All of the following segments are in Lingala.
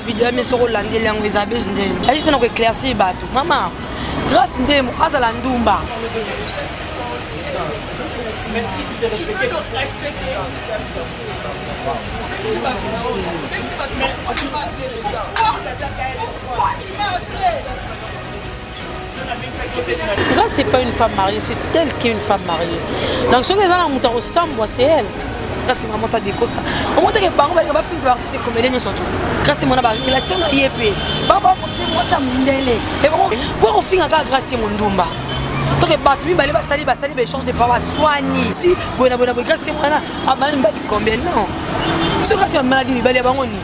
video yame soko olandeli yango eza bese nde ayisi mpona koeclaircir bato mama grace ndemo azala ndumba Pourquoi tu m'as appelé Nga c'est pas une femme mariée, c'est telle qu'une femme mariée. Donc soki eza na moto akosambwa c'est elle. Kasi maman ça décosta. Au moins que bango balinga ba films ba artiste comédien nyonso tu. Kasi mwana ba relation na ye pe. Ba ba ko tse mwa sa mundele. Et bon, pour ko finga ka grâce te mondumba. toke bato mibale basali basali baechange de pawa swani ti boye na boye na boye grâce te mwana abalani mbaki combien non soki kasi bamaladi mibale ya bango nini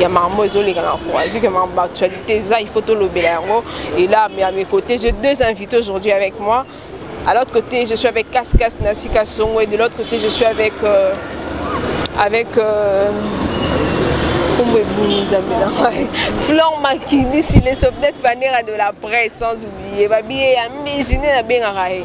ya marmo ezoleka na kua vu que marmo actualité eza il faut tolobela yango et là mais à mes côtés j'ai deux invités aujourd'hui avec moi à l'autre côté je suis avec Cascas Nasika Songo et de l'autre côté je suis avec euh, avec euh, nkombo ebimi nzambe na ngai flor makilisi le sopnet panera de la presse sans oublier babiye ya mbiji nde nabengaka ye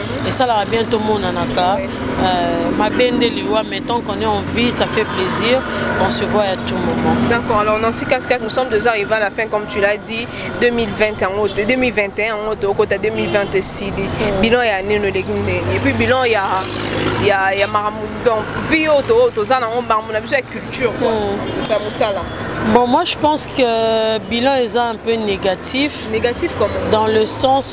esalaka bien tomonanaka euh, mabe nde liwa mais tant qu'on est en vie ça fait plaisir on se voit à tout moment d'accord alors dans ce cas nous sommes déjà arrivés à la fin comme tu l'as dit 2020 en haute 2021 en haute au côté 2020 esili bilan ya nini oleki ndenge et puis bilan ya ya ya makambo donc vie oyo toza nango makambo na biso ya culture quoi tosa hmm. mosala Bon, moi je pense que le bilan est un peu négatif. Négatif comment Dans le sens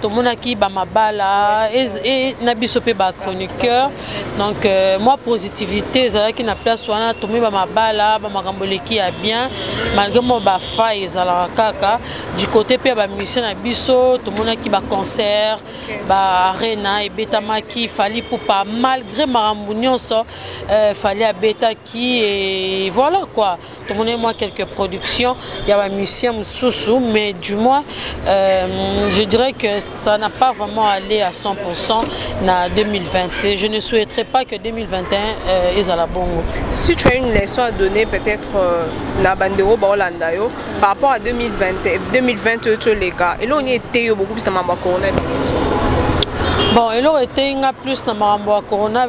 tomonaki bamabala e, na biso mpe bachroniqueur donc euh, mwa positivité ezalaki na place wana tomoni bamabala bamakambo eleki ya bien malgré mwa bafai ezalaka kaka du côté mpe ya bamusicien na biso tomonaki baconcert baarena ebetamaki fali pupa malgré makambo nyonso euh, fali abetaki e voilà quoi tomoneli mwa quelques productions ya bamusicien mosusu mais du moins euh, je dirais que ça n'a pas vraiment allé à 100 na 2020 et je ne souhaiterais pas que 2021 euh, ezala bongo si tu as une leçon à donner peut-être euh, na bandeko baolanda yo par rapport à 2020 2020 oyo toleka eloko nini eteyi yo bokobisa mambo ya coronavirus bon eloko eteyi nga plus na makambo ya corona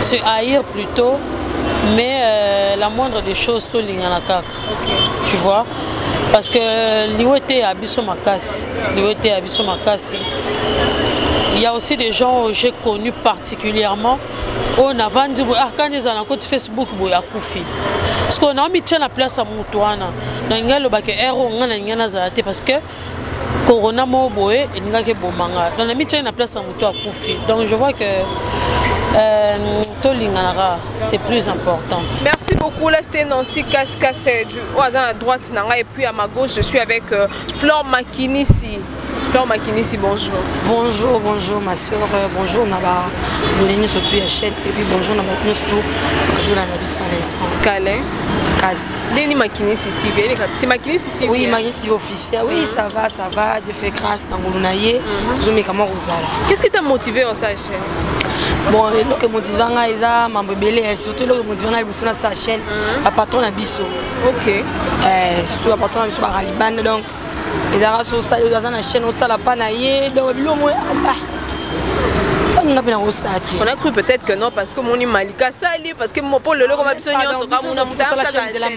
se haïr plutôt mais euh, la moindre des choses tolingana kaka okay. tu vois parce que liwa eteya biso makasi liwa eteya biso makasi il y a aussi des gens que j'ai connus particulièrement oyo navandi boye ah kani ezala na koti facebook boye akufi parceke naomitya na place ya motu wana nalingi aloba ke ero ngai nalingi nazala te parce que corona moko boye elingaki eboma nga donc namityaki na place ya moto akufi donc je vois que euh, tolinganaka c'est plus importante merci beaucoup là c'était nancy cascas euh, du oyo aza na droite na ngai et puis à ma gauche je suis avec euh, flore makinisi flore makinisi bonjour bonjour bonjour ma soeur euh, bonjour na babone nyonso tu ya chaîne et puis bonjour na bato nyonso tu bazolanda biso à l'instant kale kasi ndeni makinisi tv eleka ti makinisi oui magnifique officiel oui ça va ça va dieu fait grâce na ngolu na ye mhm. tozomeka mwa kozala qu'est ce qui t'a motivé en sa chaîne bon eloko emotiva ngai eza mambo ebele eh, surtout eloko emotiva ngai liboso na sa chaîne mhm. bapatron na biso ok eh, surtout bapatron na biso baralibane donc ezalaka so osali oyo aza na chaîne osala pa na ye donc biloko moyo aba baninga mpe nakosala te on a cru peut-être que non parce que moni malika asali parce que mpo lelo koma biso nyonso kamuna motaasala chaîne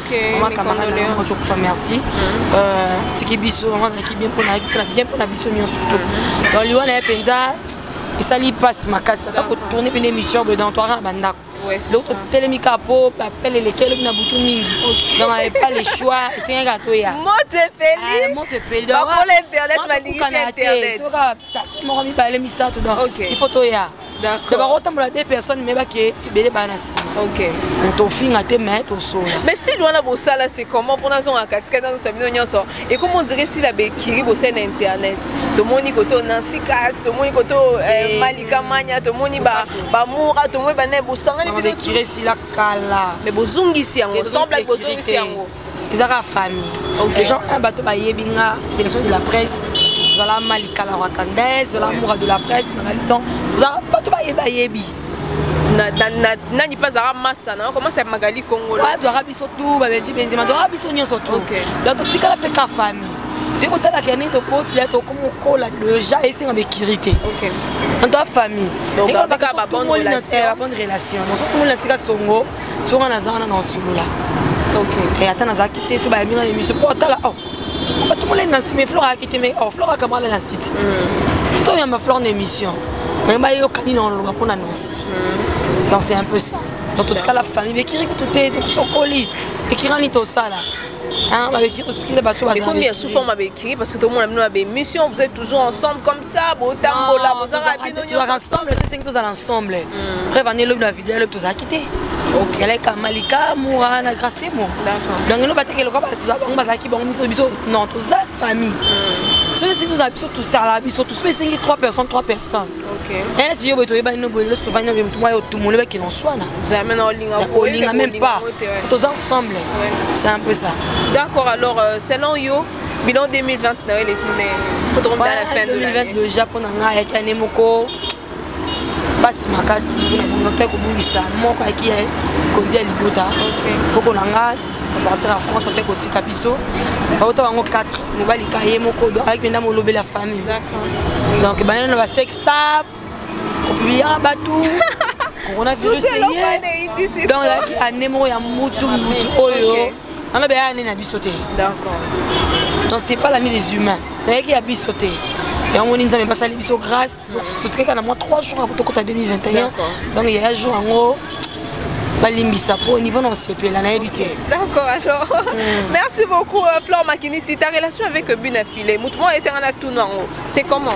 ozokufa merci mm. euh, tiki biso yango azalaki bien mpona biso nyonso to mm. donc liwa na ye mpenza esali mpasi makasi ata kotourne mpena émission boye dans toara na bandako donc totelemi kaka mpo bapele eleki elobi na butu mingi donc epa le choix esengaki kaka toya motepelimotepelikaka ah, te soki moko mibale misato donc il faut toya donc bakotambola de personne me bake ebele baa na nsima tofinga te me tosola mais style wana bosala se comment mpona azonga katikati azosa bino nyonso ekomi ondire style ya bekiri bosai na internet tomoni koto nancy kas tomoni koto eh, eh, malika mania tomoni bamura tomoni banaye bosangani bino kala mais bozongisi yango semblaki bozongisi yango eza kaka famille okay. gens un bato bayebi nga sélection de la presse zala malika la rwakandaise zala moura de la presse magali donc bato bayebi bayebi nani mpe azalaka master na okomasa ya magali kongo adwaka biso tu babeji benzima adwaka biso nyonso tu donc totikala mpe ka famille te kotalaka ndenge tokoti ya tokomokola deja esenga bekiri te en toi famille babonne relation nosokomona sika songo so nga naza wana na osolola eh, ata nazalaki te so bayambi nga na émission mpo atala oh, bato molai na nsima flore ayaki te mai oh, flore akamala na site mm. futa oyamba flore na émission mai bayokani na oloba mpo na nansi mm. donc c'est un peu ça donc totikala famille bekiri kutu te tosokoli ekirani tosala babekiri totikila bato baekomi ya sous forme babekiri parce que tomona bino na bémission vous êtes toujours ensemble comme ça botambola bozaka bino nyonso ensemble c'est que tous ensemble hmm. preuve année lobi na vidéo lobi tozalaki te ezalaki malika mura na grace temo donc elo bateke loka bango bazalaki bango biso biso non toza famille hmm. soki esiki tozala biso tosala biso tous mpe esengi 3 personnes 3 personnes neti yo boye toyebani no boye loso tovandi nobe motu mwa yo otumoli bake na oswana olinga même pas toza ensemble c'est un peu ça d'accord alors euh, selon yo bilan 2020 na yo eleki ndenge otokomita na fin de l'année déjà mpo na ngai ayaki ane moko basi makasi mpona bongo mpe kobungisa moko ayaki ya konzi ya libota koko na ngai partir ya france mpe kotika biso bauta bango 4 mobali ka ye moko ayaki mpenza molobeli ya famille donc banani na basextap kopibiyaka bato coronavirus eye donc ezalaki ane moko ya mutu mutu oyo wana beya ane na biso te donc c'était pas l'année des humains nayaki ya biso te yango moni nzambe basali biso grâce totikaka na mwa 3 jours apo tokota 2021 donc yaya jour yango balimbisa mpo niveau na osepela nayebi te d'accord alors mm. merci beaucoup euh, flore makinisi ta relation avec bina file motu moko esengana tuna yango c'est comment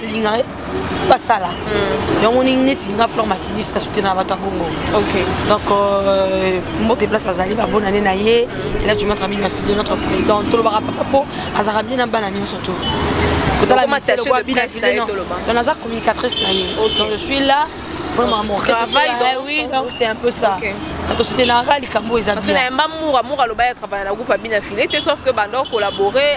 linga eh, basala hmm. yango ndenge neti nga flor makinisi na soutenaka bato ya bongo donc euh, mbote place azali babona nde na ye ela tu matra bina fide notre président tolobaka papa mpo azalaka bie na bana nyonso to naza communicatrice na ye donc je suis là pour mon travail eh oui donc c'est un peu ça okay. tosutenaka likambo eza bien parce que na yamba mura mura alobaki atravaille na groupe abina file te sauf que banda okolabore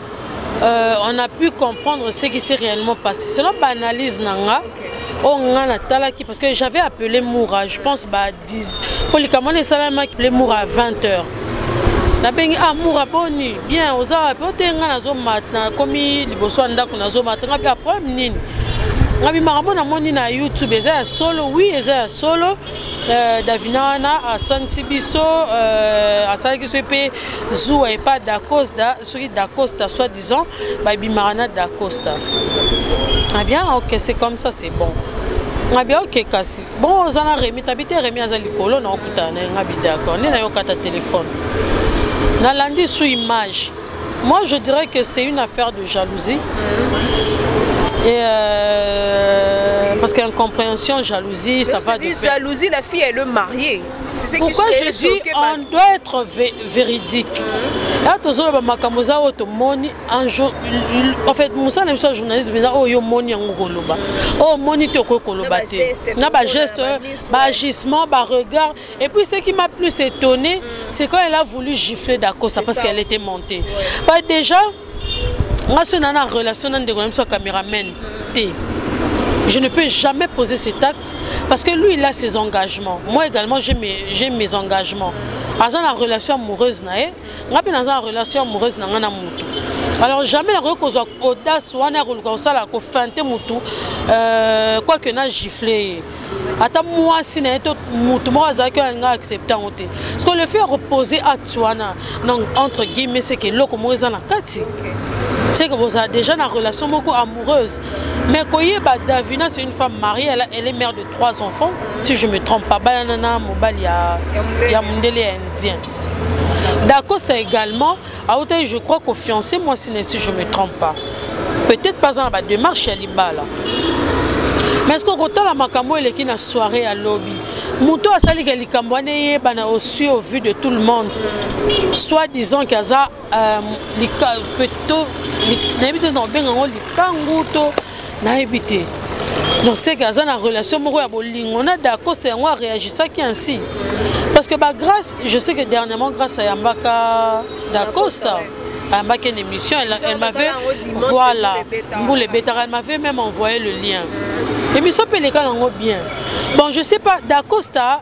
Euh, on a pu comprendre ce qui s'est réellement passé. Selon l'analyse nanga, on nga na talaki parce que j'avais appelé Moura, je pense bah 10. Pour les camarades, les salariés appelé Moura à 20h. nabengi ah mura boni bien oza wapi ote nga nazomata nakomi liboso ya ndako nazomata nga mpe ya problème nini nga bimaka mpo namoni na youtube eza ya solo wi eza ya solo euh, davina wana aswanisi biso euh, asalaki biso mpe zuwa epa dacosda soki dacosta soit disant babimaka na dacosta abia ah ok c'est comme ça c'est bon ngabi aoke kasi bon oza na remi tabi te remi aza likolo na okutana na ye ngabi d'accord nde nayokata telefone nalandi sous image moi je dirais que c'est une affaire de jalousie mm-hmm. et euh, parce que incompréhension jalousie ça va de jalousie la fille elle est mariée pourquoi je dis on doit être véridique mhm. ya tozoloba makambo eza oyo tomoni en fait mosala na biso ya journalisme eza oyo omoni yango koloba mhm. oyo omoni te okoki koloba te na bageste baagissement baregard et puis ce qui m'a plus étonné mhm. c'est quand elle a voulu gifler dacosta parce qu'elle était montée bah déjà nga soki na na relation na ndeko na biso ya cameraman te je ne peux jamais poser cet acte parce que lui il a ses engagements moi également j'ai mes, j'ai mes engagements aza na relation amoureuse na ye nga mpe naza na relation amoureuse na nga na motu alors jamais nakoki kozwa audace wana ya koluka kosala kofinte motu euh, quoique na gifle ye ata mwasi na ye to motu moko azalaki oyo alinga accepte yango te parce que le fait ya kopose acte wana donc entre guillemets seke eloko moko eza na kati seke bozala déjà na relation moko amoureuse mais koyeba davina c'est une femme mariée elle, elle est mère de trois enfants si je me trompe pas bayana na mobali ya, ya mondele ya indien dacosta également autaki je crois kofiance mwasi na si je me trompe pas peut-être pas na badémarche ya libala mais soki okotala makambo oyo eleki na soirée ya lobi moto asalika likambo wana eyebana aussi au vu de tout le monde soit disant ke aza euh, nayebi te na obenga yango likangu to nayebi te donc seke aza na relation moko ya bolingo na dacoste yango areagisaki ainsi parce que bagrace je sais que dernièrement grâce ayambaka dacosta ayambaki une émission elle, elle m'avait voilà mbula ebetaka elle m'avait même envoyé le lien émission mpe eleka nango bien bon je sais pas dacosta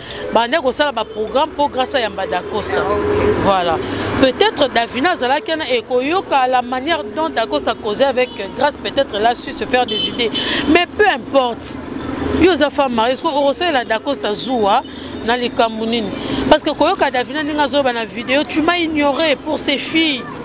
bande kosala baprogramme mpo grâce ayamba dacosta ah, voilà peut-être davina azalaki wana ekoyoka la manière dont dacosta causé avec grâce peut-être la su se faire des idées mais peu importe yo oza femme marie ceque okosalela dacosta zuwa na likambo nini parce que koyoka davina ndenge azoloba na video tu m'as ignoré pour ses filles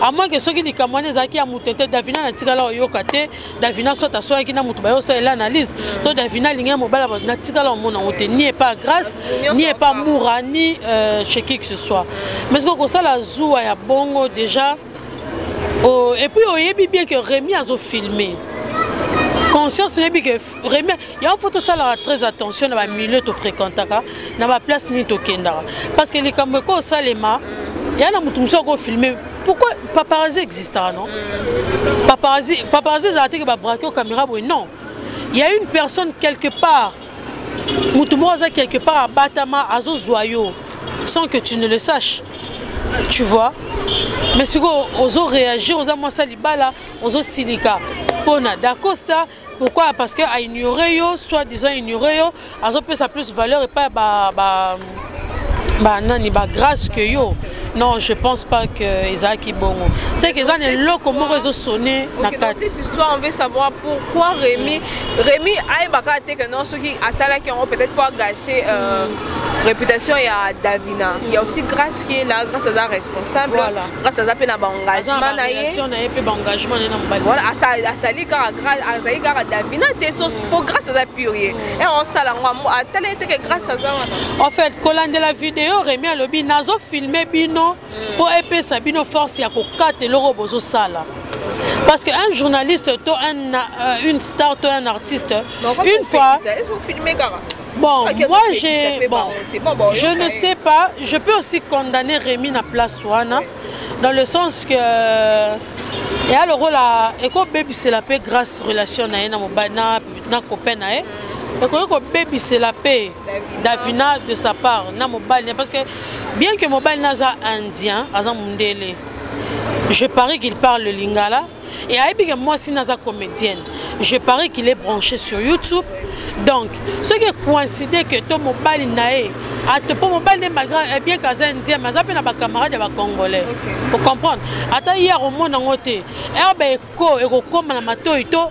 à moins que soki likambo wana ezalaki ya moto te davina natikala oyoka te davina soit asoyaki na moto bayosalela analyse to davina alingaki mobala bato natikala omona yango te ni epa grâce ni epa moura ni euh, chez qui que ce soit mais soki okosala zuwa ya bongo déjà oh, et puis oyebi bien que rémi azofilme conscience oyebi que Remia, il faut tout ça là très attention dans le milieu tu fréquentes dans la place ni to kendara parce que les kambo ko salema il y a na mutu muso ko filmer pourquoi paparazzi existe ah, non paparazzi paparazzi za te que ba braquer caméra oui non il y a une personne quelque part mutu mo za quelque part batama azo zoyo sans que tu ne le saches tu vois mais sikoyo ozoréagir oza mwasi ya libala ozosilika mpo na dacosta pourquoi parce que a ignorer yo soit disant ignorer yo azopesa plus valeur et pas ba ba ba nani ba grâce que yo non je pense pas que ezalaki bongo c'est que eza na eloko moko ezosone na kati histoire on veut savoir pourquoi rémi rémi ayebaka te que non soki asalaki yango peut-être po agache euh, réputation ya davina il y a aussi grâce qui est là grâce aza responsable voilà. grâce aza mpe na baengagement na ye voilà asali kaka azali kaka davina te so mm. mpo grâce aza pure ye mm. e osala yango atala ye teke grâce aza wana en fait kolandela video remi alobi nazofilme bino mm. mpo epesa bino force ya kokata eloko bozosala Parce qu'un journaliste, toi, un, euh, une star, toi, un artiste, une fois... Bon, moi j'ai bon, bon, je ne sais pas, je peux aussi condamner Rémi na place wana dans le sens que et alors là, et quoi baby c'est la paix grâce relation na na mobana na copain na et quoi quoi baby c'est la paix Davina de sa part na mobali parce que bien que mobali naza indien aza mundele je parie qu'il parle le lingala et ayebi ke mwasi naza comédienne je parie qu'il est branché sur youtube donc soki ekoincide ke to mobali na ye ate mpo mobali nde malgré eh, bien ke aza indien mais aza mpe na bacamarade ya bacongolais ocomprendre ata ye akomona yango te herbe eko ekokóma na matoi to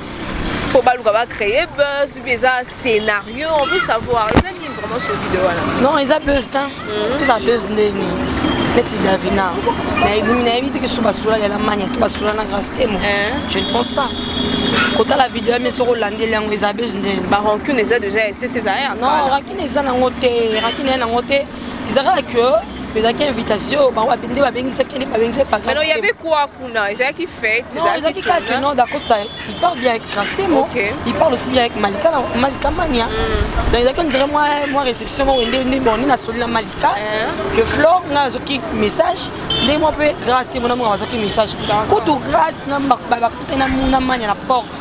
mpo baluka ba créer buzz mpe eza scénario on veut savoir eza nini vraiment sur video wana non eza buzz ta mhm. eza buzz ndeni neti davina nayebi te kisu basula lela mania to basula na grace temo eh. je ne pense pas kotala video yame soki olandeli yango eza buzz ndeni barancune eza déjà esese eza ya non rakine eza nango te rakine ya nango te ezalaka que ezalaki invitation bango nde babengisaki nde babengisaki paano ya be kwa kuna ezalaki fete ezalaki kaka non dacosta il parle bien avec castemo il parle aussi bien avec malika malika mania mm. donc ezalaki on dirait moi moi réception moko nde nde bon nde nasoli na malika eh. que flore nga azwaki message nde mwa mpe grace te mona moko azwaki message kutu grace na na manya na porte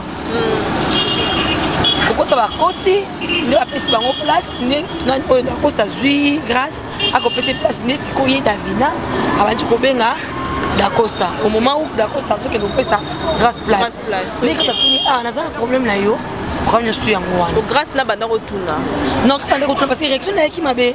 kokota hmm. bakoti nde bapesi bango place nde oyo dacosta azwi grâce akopesa place nde sikoyo ye davina abandi kobenga dacosta au moment où dacosta azokende kopesa grâce place nde kasa tuni a ah, naza na problème na yo programme nyonso yango wana grâce na banda kotuna non kasa nde kotuna parce que réaction nayaki mabe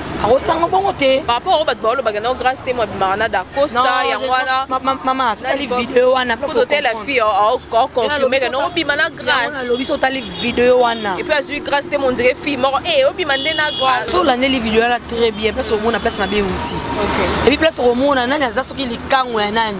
akosanga bongo te par rapport oyo bato baolobaka nao grâce te mwabimaka na dacosta yango wana mama sotali video wana otela fille aoconfirmeke no obima na grâcealobi so otali video wana epuis azwi grâce te mondire fille moko e eh, obima nde na grâce so olandeli video wana très bien place omona place mabe euti epuis place okomona nani aza soki likango ya nani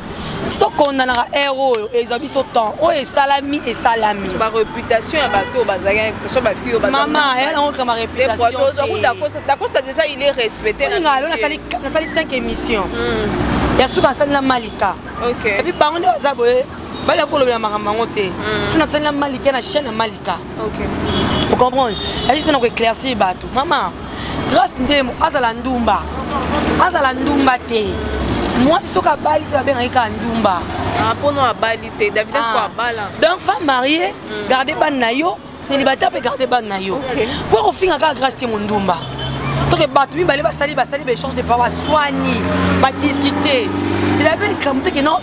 ti tokondanaka heure oyo ezwa biso temps oyo esalami esalami bareputation ya bato oyo bazalaki so bafille mama yango kama reputationdacosta déjà il est respecté ngalo nasali 5 émission hmm. ya suka nasali na malika epuis bango nde baza boye bali ya kolobela makambo yango te hmm. so nasali na malika na chaîne ya malika okay. vous comprenez la juste maintenant éclaircir bato maman grâce ndemo azala ndumba azala ndumba te mwasi soki abali te babengaki kaka ndumba ah, mpono abali te davida soko ah. abala donc femme mariée mm. garde bane na yo célibataire mpe garde bane na yo mpo kofinga kaka grâce te mondumba toke bato mibale basali basali baéchange de paroi swani badiscute elabe likambo teke non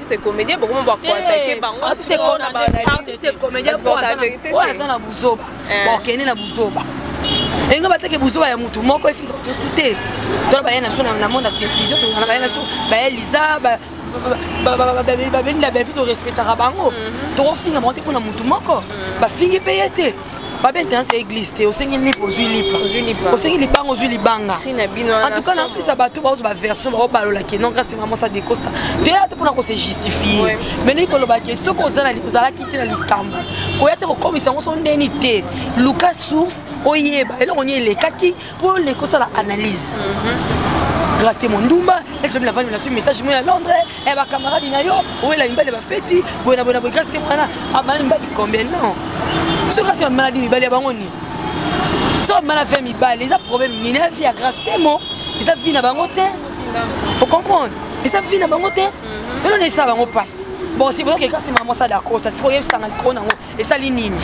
artiste comédien bokoma ba contacter bango artiste comédien oyo aza na buzoba eh. bokende na buzoba enge bateke buzoba ya motu moko efinisa batosu te tona baye na biso na monde ya télévision tozana baye na biso baye liza babendi na bavi torespectaka bango tokofinga bango te mpo na motu moko bafingi mpe ye te babe internet ya église te osengi lipa ozwi lipa osengi libanga ozwi libanga antuka napesa bato baozo baversion baobalola ke non grâce te maman sa decosta toyala te mpona kose justifie mais ndenge koloba ke soki ozalaki te na likambo koya te kokomisa yango so ndeni te luka source oyeba eloko nini elekaki pole kosala analyse grâce te mondumba esomi na vandi nasui message mo ya londres e eh, bacamarade na yo owela mibali bafeti boye na boye na boye grâce te mwana abala mibali combien non soki kasi bamaladi mibali ya bango nini so bamala ve mibali eza problème nini ya vie ya grâce te mo eza vie na bango te ocomprendre eza vie na bango te elona esala bango mpasi bon si bozokeka nsima mwasala dacosta sikoyebisanga likolo nango esali nini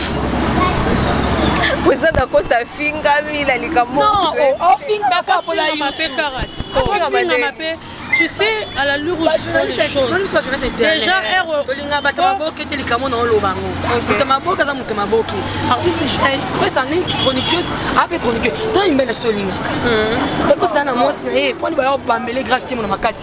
president dacosta afingami na likambo ofingapapola yo mpe karate ofingama mpe tu sais à la lure où je prends les choses déjà erreur tolinga bato maboke te likambo na oloba yango moto maboke aza moto maboke artiste presse en ligne chroniqueuse ape chroniqueuse tala mibali na so tolingaka ekosala na mwasi na ye mpo ni bayo bambele grâce te mona makasi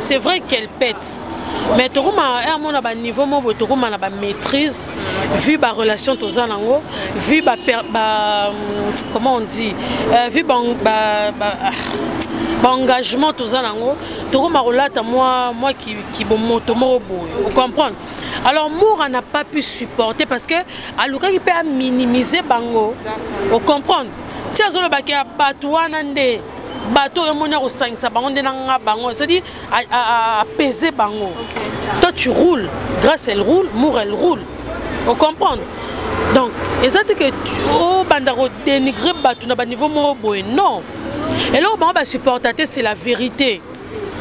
c'est vrai qu'elle pète mais tokoma eh, amona baniveau moko boye tokoma na bamaîtrise vu barelation toza nango vu ba, ba comment on dit euh, vu ba, ba, ba ah, baengagement toza nango tokoma kolata mwa mwa kibomoto moko boye ocomprendre alors mora n'a pas pu supporter parce que alukaki mpe aminimize bango ocomprendre ti azolobaki ya bato wana nde bato oyo omoni akosangisa bango nde nanga bango c'est-à-dire apaiser bango okay. toi tu roule grâce elle roule mour elle roule ocomprendre donc eza te ke obanda oh, kodenigre bato na baniveau moko boye non eloko bango basupporta te c'est la vérité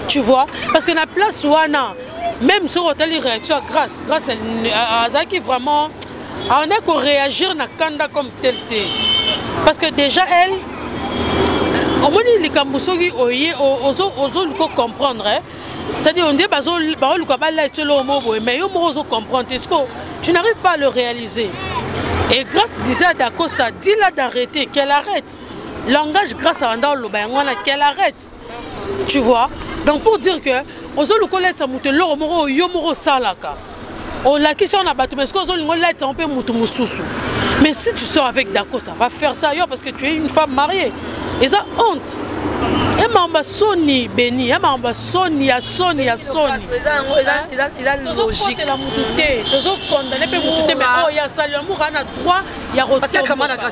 tu vois parce que na place wana même soki otali réaction ya grâce grâce azalaki vraiment aonde koréagir na kanda comme tel te parce que déjà elle omoni likambo soki oye ozoluka comprendre eh? c'est-à-dire on dit baoluka balait yo eloko moko boye mais yo moko ozo comprendre te ceque tu n'arrives pas à le réaliser et grâce disait à dacosta dila d'arrêter qu'elle arrête langage grâce abanda oloba yango wana qu'elle arrête tu vois donc pour dire que ozoluka olatisa moto eloko moko oyo yo moko osalaka olakisi yango na bato mais soki ozolinga olatisa yango mpe moto mosusu mais si tu sors avec dacosta va faire ça yo parce que tu es une femme mariée eza honte ya makambo ya soni beni ya makambo ya soni ya soni ya soniokotela motu te tozokondane mpe motu te mais oyo asali amour ana droit ya kotombaka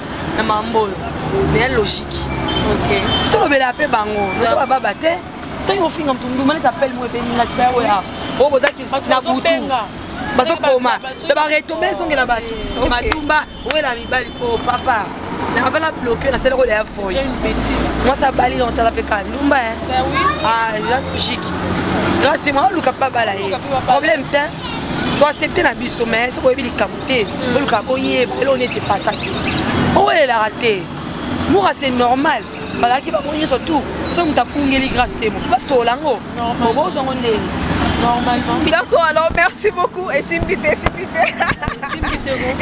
na mambo oyo meya logique tolobela mpe bango to bababa te ntango ofinga moto nduma neti apele mo ebeni na sita oyo oyo bozaki na butu bazokoma mpe baretombe ezongela bato matumba owela mibali mpo oh, papa abala bloke nasala kola ya voice mwasi abali na otala mpe kalumba ya logique grâce te mwa oluka mpe abala ye problème te toaccepte na biso mais soki oyebi likambo te boluka boyeba elo ne se pasa te owelelaka te mura c'est normal bazalaki bango nyonso tout soki moto akungeli grâce te mosu basola yango okozwa ngo ndenge d'accord alors merci beaucoup esimbi te esimbi te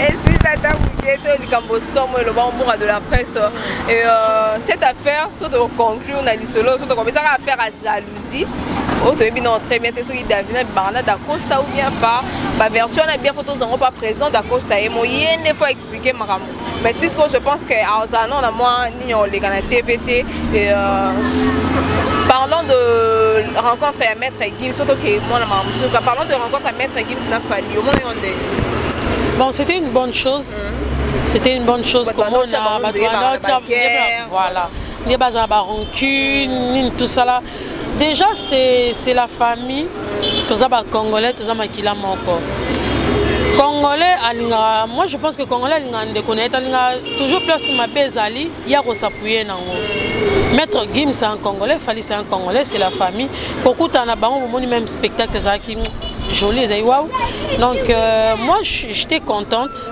esimbi ata moke to likambo somo eloba mura de la presse euh, cette affaire so tokoconclure na lisolo so tokopesaka affaire ya jaloux jalousie oyo oh, toyebi nao très bien te soki davina bibanga na dacosta ou bien pas baversion wana bien fo tozwa yango pa président dacosta ye moye nde fo explike makambo mais tisco je pense que azala nao na mwa nini oleka na tv te euh, parlant de rencontre ya maître gims fo toke mwana makambo mosusu parlant de rencontre ya maître gims na fali omona yo nde bon c'était une bonne chose mm -hmm. c'était une bonne chose komona bato wana voilà nde bazala ba rancune nini tosala déjà c'est la famille toza bacongolais toza makila moko congolais alingaka moi je pense que congolais alingaka ndeko na ye te alingaka toujours place mabe ezali ye akosapuye nango maître gim c'est un congolais fali c'est un congolais c'est la famille kokutana na bango bomoni même spectacle ezalaki jolie ezali waw donc euh, moi j'étais contente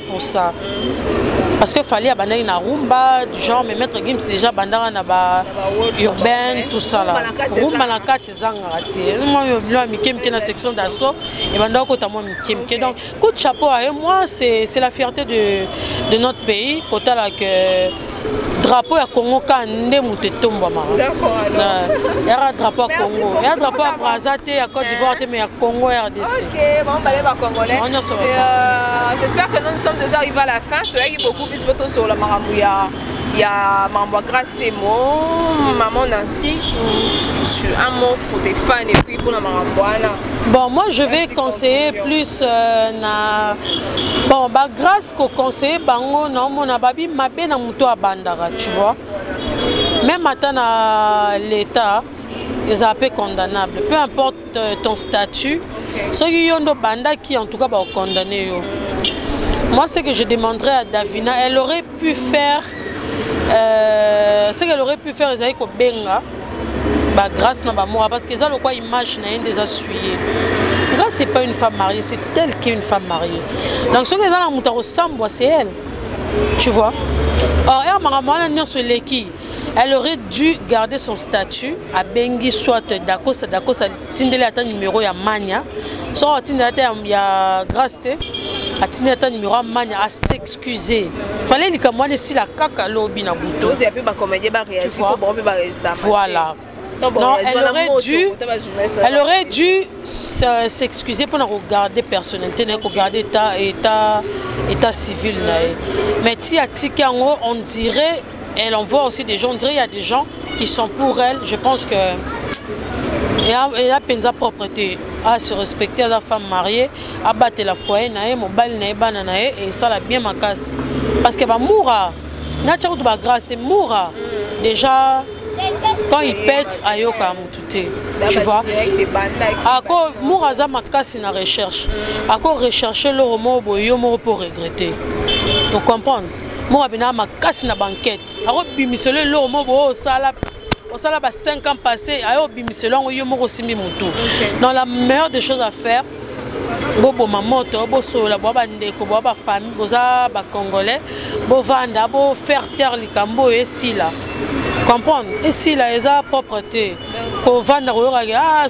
pour ça parce que fallait abandaki na rumba du genre mais maître gims déjà abandaka na ba urbaine tout ça là rumba na kati ezangaka te mwa bilo ya mike mike na section d'assaut ebandaka kota mwa mike mike donc coup de chapeau aye moi c'est la fierté de, de notre pays kotala que drapeau ya congo ka nde moto etombwamaka yaka drapeau ya congo ya drapeau ya braza te ya cote d'ivoire te mais ya congo rdc nyonso euh, j'espère que nous sommes déjà arrivé à la fin toyaki beaucoup biso tosola makambo ya ya makambo ya grace temo maman nancy un mot pour tes fans et puis mpona makambo wana bon moi je vais conseiller plus euh, na bon bagrace ko conseiller bango na omona babi mabe na moto abandaka tu vois même ata na l'état ezala mpe condamnable peu importe euh, ton statut soki yo nde obandaki en tout cas bakokondamne yo moi ce que je demanderai à davina elle aurait pu faire euh, ce qu'elle aurait pu faire ezali kobenga bagrâce na bamora parce que eza lokwa image na ye nde eza suye nga c'est pas une femme mariée c'est telle que une femme mariée donc soki eza na moto akosambwa c'est elle tu vois or er makambo wana nyonso eleki elle aurait dû garder son statut abengi soit dacosta dacosta tindeli ata numero ya mania soki atindeli ata ya, ya grace te atindeli ata numero ya mania asexcuse fale likambo wana esila kaka lobi na buto voilà non, elle, aurait dû, elle aurait dû s'excuser pour regarder personnalité, regarder état, état, état civil. Mais si on dirait Elle envoie aussi des gens, on dirait il y a des gens qui sont pour elle. Je pense que et a, et a penza propreté a se respecter la femme mariée a battre la foyer na ye mobali na ye bana na ye et ça la bien makasi parce que ba moura na tchako ba grâce te moura déjà quand il pète ayoka mutu te tu vois ako moura aza makasi na recherche ako recherche loro moko boye yo moko mpo regrette ocomprendre moko abinaka makasi na bankete akobimiselo eloko moko boyo osala osala ba 5 ans passé ayo obimiselo yango yo moko osimbi motu dans la meilleure des choses à faire boboma moto bosolola bwa bandeko bwa bafamille boza bacongolais bovanda bofaire taire likambo oyo esila comprendre esila eza propre te kovanda koyokaki ah,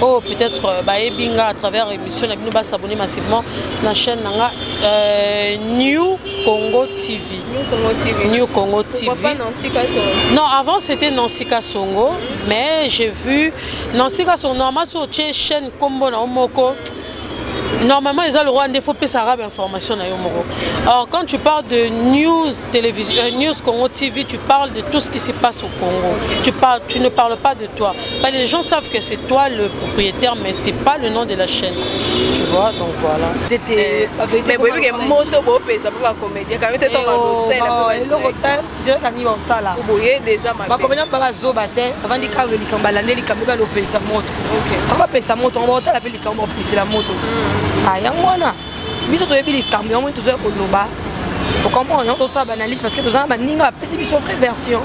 Oh, peut-être euh, bayebi nga à travers émission na bino ba s'abonner massivement na chaîne na nga euh, New Congo TV. New Congo TV. New Congo TV. Pourquoi pas Nancy Kasongo Non, avant c'était Nancy Kasongo, mais j'ai vu Nancy Kasongo normalement sur chaîne Combo na Omoko. Mm. normalement eza lokola nde faut pesa arabe information na yo moko or quand tu parles de news télévision euh, news congo tv tu parles de tout ce qui se passe au congo tu parles tu ne parles pas de toi bah, les gens savent que c'est toi le propriétaire mais c'est pas le nom de la chaîne tu vois donc voilà mais boyebi ke moto bopesa mpo bacomédien kame te ntongo bakosalela mpo direct ani baosala bakomena mpa bazoba te bavandi kanga likambo balande likambo ebali opelisa moto ako bapelisa moto yango baotala mpe likambo baopelisela moto mm. ah, yango wana biso toyebi likambo yango tozoya koloba ocomprendre yango tosala baanalyse parce que toza na baninga bapesi biso vraie version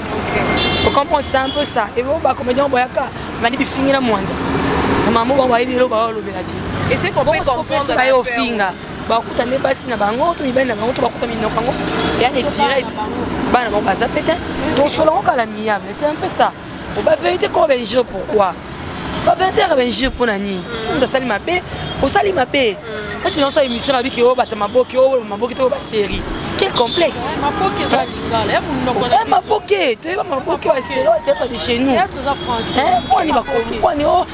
ocomprendre c'est un peu ça ebo oh, bacomédien yango boyaka bandi bifingi na mwanza na mama bango bayebi eloko baolobela te baye ofinga bakuta nde basi na bango to mibali na bango to bakuta minoko yango ya retirete bana bango baza mpe te tosola yango kala miyame c'est un peu ça oba verité koma bainjure pourquoi babentere bainjure mpo na nini soki asali mabe osali mabe neti na osala émission na biki oyo bato maboki oyo maboki to oyo basérie quel complexe maboke eza lingala ya monoko na maboke toyeba maboke ya selo eteka de chez nous mponi bakomi mponi o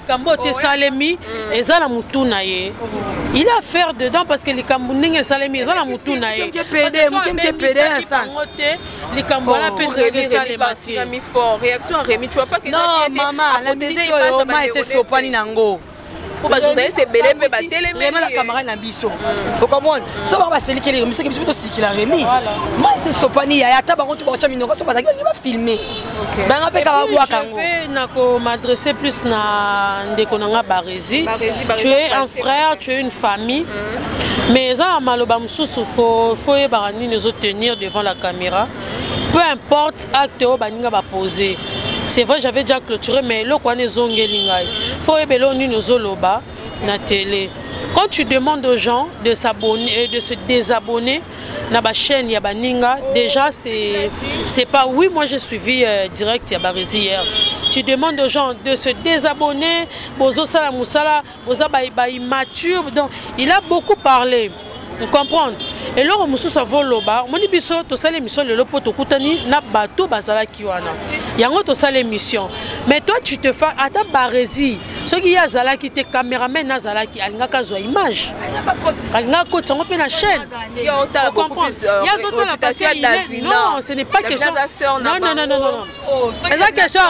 likambo oyo esalemi eza na motu na ye il a faire dedans parce que likambo ndenge esalemi eza na motu na ye yango te likambo wana mpe ndenge esalema tesopani nango po bajournaliste ebele mpe batelemela camarade na biso mm. okomona so bango baselikeli remisaki biso mpe tosikila remi mai sesopani yaya ata bango to baotya minoko so bazalaki balingi bafilme banga mpe kaka bwaka yango nako m'adresse plus na ndeko na nga barezi tu es un frère tu es une famille mm. mais eza na maloba mosusu fo oyebaka nini ezo tenir devant la caméra peu importe acte oyo baninga bapose c'est vrai j'avais déjà clôturé mais eloko wana ezongeli ngai fo oyeba eloko nini ozoloba na tele quand tu demandes aux gens de s'abonner euh, de se désabonner na ba chaîne ya baninga déjà c'est c'est pas oui moi j'ai suivi euh, direct ya barezi hier tu demandes aux gens de se désabonner bozo sala musala boza ba, ba immature donc il a beaucoup parlé vous comprenez eloko mosusu avoloba omoni biso tosala émission lelo mpo tokutani na bato bazalaki wana yango tosala émission mais toi tu te fa ata baresi soki ye azalaki te cameraman azalaki alingaka azwa image alingaka kotisa yango mpe na chaîne ye azotala non ce n'est pas question non non non non eza question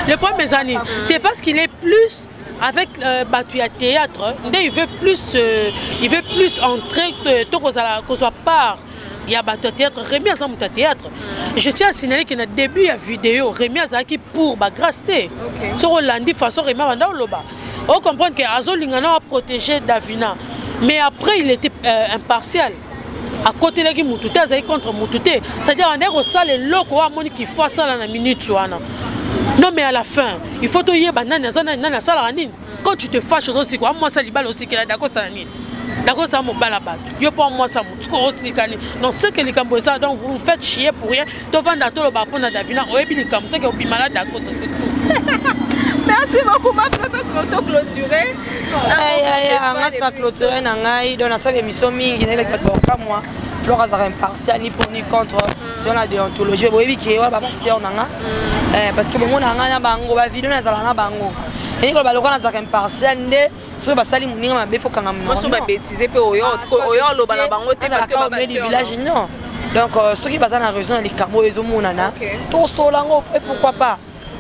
le problème eza nini c'est parce qu'il est plus avec euh, bato ya théâtre nde il veut plus euh, il veut plus entrer euh, to kozala kozwa part ya bato ya théâtre remi aza moto ya théâtre mm. je tiens à signaler que na début ya video remi azalaki pour bagrace te soki olandi façon remi abanda oloba ocomprendre ke azolinga na aprotégé davina mais après il était euh, impartial akotelaki motu te azalaki contre motu te c'est-à-dire andaki kosala eloko oyo amoni kifo asala na minute wana non mais à la fin il faut toyeba nani aza nani nani asalaka nini quand tu te fâche ozo sikola mwasi ya libala osikela dakosa na nini dakosa ya mobala bato yo mpo mwasi ya motu sikoyo osikani donc seke likambo eza donc vous faites chier pour rien tovanda toloba mpo na davina oyebi likambo seke obima na dakosa merci beaucoup ma to clôturer nga sina clôturer na ngai donc nasala émission mingi nayelaki bato bakamwa flore azalaka impartial ni pour ni contre selon la déontologie boyebi ke wana babasior na nga mm. eh, parce que bomona nga na bango bavideo nazala na bango elingi koloba lokola nazalaka impartial nde soki basali moninga mabe fokanga mnoso babetize mpe oyo ah, oloba na bango te du village non donc euh, soki baza na raison na likambo oyo ezomonana tosola yango mpe pourquoi pas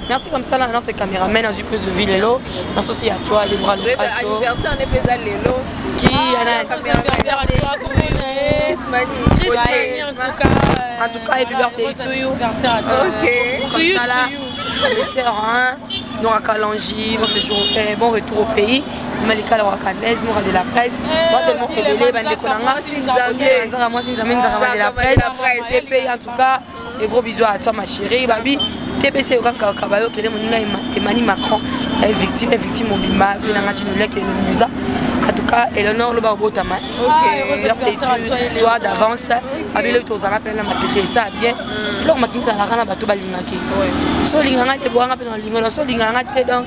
merci comme ça là notre caméraman azwi plus de vie lelo na sosi ya toi debra lokaso ki en tout cas happy birthday to you to you to you sœur hein Nora Kalanji, bon séjour, eh, bon retour au pays. Malika la Wakadez, Mora de la presse. Moi tellement rebellé, bande Konanga, Nzanga, moi Nzanga, Nzanga de la presse. C'est payé en tout cas. Et gros bisous à toi ma chérie, baby. TPC okaka kabayo kele moninga Emmanuel Macron, elle victime, elle victime mobimba, vina ngati nule ke musa. En tout cas, Eleanor loba obotama. OK. Toi d'avance, abile tozala pena matete ça bien. mm. flore makinisa alaka na bato balingaki so olinga ngai te boanga mpe nalinga na so olinga ngai te donc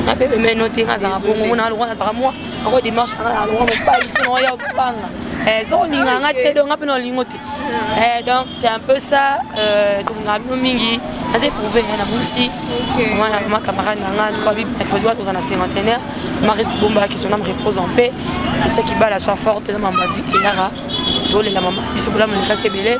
nape pemeno te ngazala bongo mona lokwa nazala mwa ako demarche ngazala lokwa mobali so naoya ozobanga eh, so olinga ngai te donc ngai mpe nalingo te mm. eh, donc c'est un peu ça euh, tolingaka bino mingi naza éprouve na busi mwana ma camarade na ngai tokobi mercredi wana toza na cinquantenaire marisi bombala que son ame repose en paix etiaki bala soit forte na mambo ya vie eyaka tolela mama biso bolamu elekaki ebele